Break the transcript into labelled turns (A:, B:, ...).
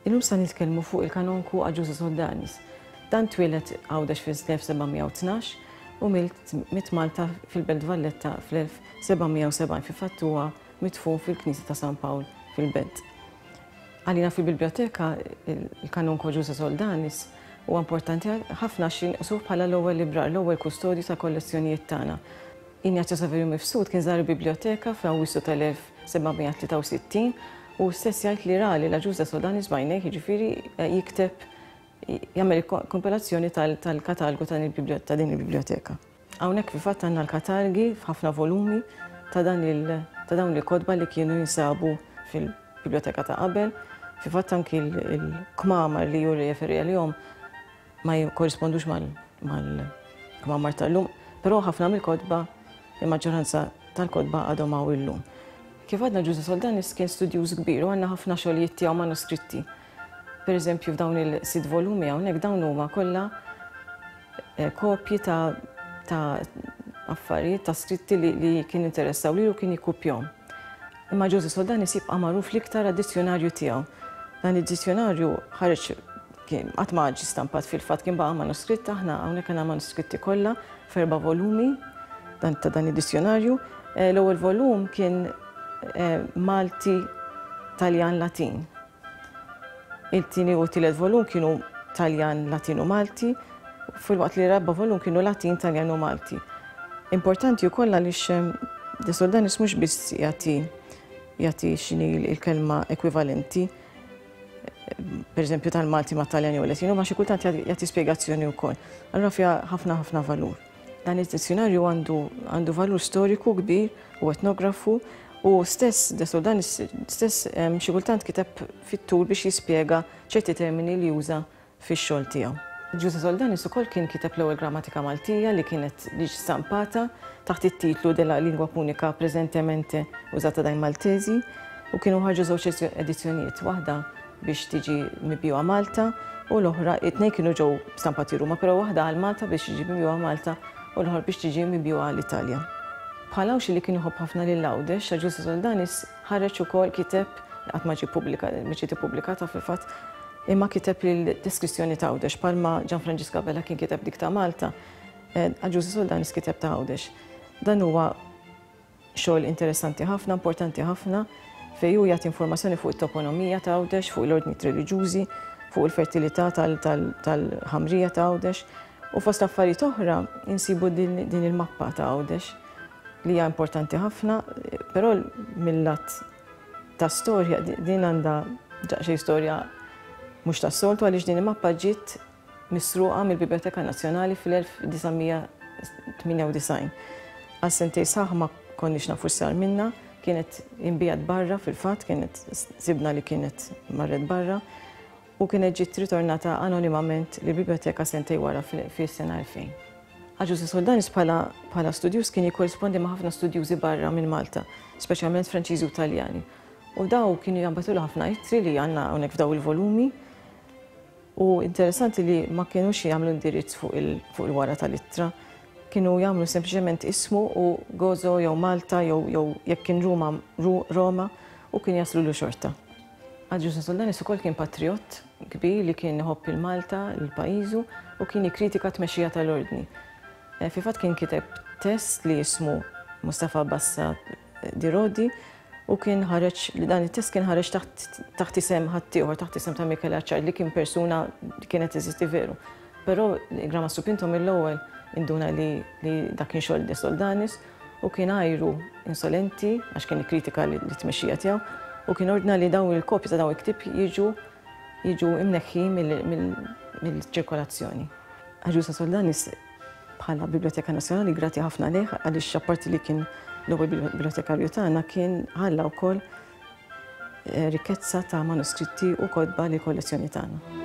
A: Illum sa nitkellmu fuq il-kanonku Aġużu Soldanis. Dan twieled għawdex fil-1712 u mit Malta fil-Belt Valletta fl-1770 fi fattuwa mitfun fil-Knisja ta' San Pawl fil-Belt. Għalina fil-Biblioteka, il-Kanonko Ġuże Soldanis huwa importanti ħafna għax jinqsuh bħala l-ewwel librar, l-ewwel kustodju tal-kollezzjonijiet tagħna. Ignazio Saverio Mifsud kien żar il-Biblioteka fl-Awwissu tal-1763 u hu stess jgħid li ra lil Agiuża Soldanis b'għajnejh, jiġifieri jikteb jagħmel kompilazzjoni tal-katalgu ta' din il-biblioteka. Hawnhekk fil-fatt għandna l-katalgi f'ħafna volumi ta' dan il ta' dawn il-kotba li kienu jinsabu fil-biblioteka ta' qabel. Fil-fatt anki l-kmamar li hu rreferi għalihom ma jikkorrispondux mal-kmamar tal-lum, però ħafna mill-kotba, il-maġġoranza tal-kotba għadhom hawn illum. Kif għadna Ġużè Soldanis kien studjuż kbir u għandna ħafna xogħlijiet tiegħu manuskritti Pereżempju f'dawn il-sitt volumi hawnhekk dawn huma kollha kopji ta' ta' affarijiet ta' skritti li li kien interessaw lilu kien jikkupjahom. Imma Ġużi Soldani se jibqa' magħruf l-iktar għad-dizzjunarju tiegħu. Dan id-dizzjunarju ħareġ kien qatt ma ġie stampat fil-fatt kien baqa' manuskritt aħna hawnhekk għandna manuskritti kollha f'erba' volumi dan ta' dan id-dizzjunarju. L-ewwel volum kien Malti Taljan Latin. It-tieni u t-tielet volum kienu Taljan, Latin u Malti, filwaqt li r-raba' volum kienu Latin, Taljan u Malti. Importanti wkoll għaliex De Soldanis mhux biss jagħti jagħti x'inhi l-kelma ekwivalenti, pereżempju tal-Malti mat-Taljan jew il-Latin, imma xi kultant jagħti spjegazzjoni wkoll. Allura fiha ħafna ħafna valur. Dan id-dizzjunarju għandu valur storiku kbir u etnografu u stess Desoldan stess ehm, xi kultant kiteb fit-tul biex jispjega ċerti termini li juża fix-xogħol tiegħu. Ġuża Soldanis ukoll kien kiteb l-ewwel grammatika Maltija li kienet liġ stampata taħt it-titlu de la lingua punika preżentemente użata dai Maltesi u kienu ħarġu żewġ edizzjonijiet waħda biex tiġi mibjugħa Malta u l-oħra, it-tnejn kienu ġew stampati Ruma, però waħda għal Malta biex tiġi mibjugħa Malta u l-oħra biex tiġi mibjugħa l-Italja. Bħal Għawdxi li kien iħobb ħafna lil Għawdex, San Ġustu Soldanis ħareġ ukoll kiteb li qatt ma ġie pubblikat, ma ġiet ippubblikata fil-fatt, imma kiteb l-deskrizzjoni ta' Għawdex bħalma Ġan Franġisk Abela kien kiteb dik ta' Malta, Għawdxi Soldanis kiteb ta' Għawdex. Dan huwa Xogħol interessanti ħafna, importanti ħafna, fejn hu jagħti informazzjoni fuq it-toponomija ta' Għawdex, fuq l-ordnijiet reliġjużi, fuq il-fertilità tal-ħamrija ta' Għawdex. U fost affarijiet oħra insibu din il-mappa ta' Għawdex li hija importanti ħafna, però mill-lat ta' storja din għandha daqsxejn storja mhux tas-soltu għaliex din il-mappa ġiet misruqa mill-Biblioteka Nazzjonali fl-1998. Għal sentejn sħaħ ma konniex nafu x'sar minnha, kienet inbiegħet barra fil-fatt, kienet sibna li kienet marret barra u kienet ġiet ritornata anonimament li biblioteka sentej wara fis-sena 2000. Aġużi Soldanis bħala studjuż kien jikkorrispondi ma' ħafna studjużi barra minn Malta, speċjalment Franċiżi u Taljani. U daw kienu jambatu ħafna ittri li għandna hawnhekk f'daw il-volumi. U interessanti li ma kienux jagħmlu indirizz fuq il-wara tal-ittra. Kienu jagħmlu sempliċement ismu u Gozo jew Malta jew jew jekk kien Ruma Roma u kien jaslulu xorta. Agius Insuldanis ukoll kien patrijott kbir li kien iħobb lil Malta, lil pajjiżu u kien jikkritika t-tmexxija tal-Ordni. Fil-fatt kien kiteb test li jismu Mustafa Bassa Di Rodi u kien ħareġ li dan it-test kien ħareġ taħt isem ħaddieħor, taħt isem ta' Mikel Aċċar li kien persuna li kienet eżisti veru. Però Grama Supinto mill-ewwel induna li dak kien xogħol De Soldanis u kien għajru insolenti għax kien ikkritika li tmexxija tiegħu u kien ordna li daw il-kopji ta' daw il-ktib jiġu jiġu imneħħi mill-ċirkolazzjoni. Aġusa Soldanis Bħala Biblioteka Nazzjonali grati ħafna lejh għaliex apparti li kien l-ewwel bibliotekarju tagħna kien ħalla wkoll eh, rikkezza ta' manuskritti u kodba li kollezzjoni tagħna.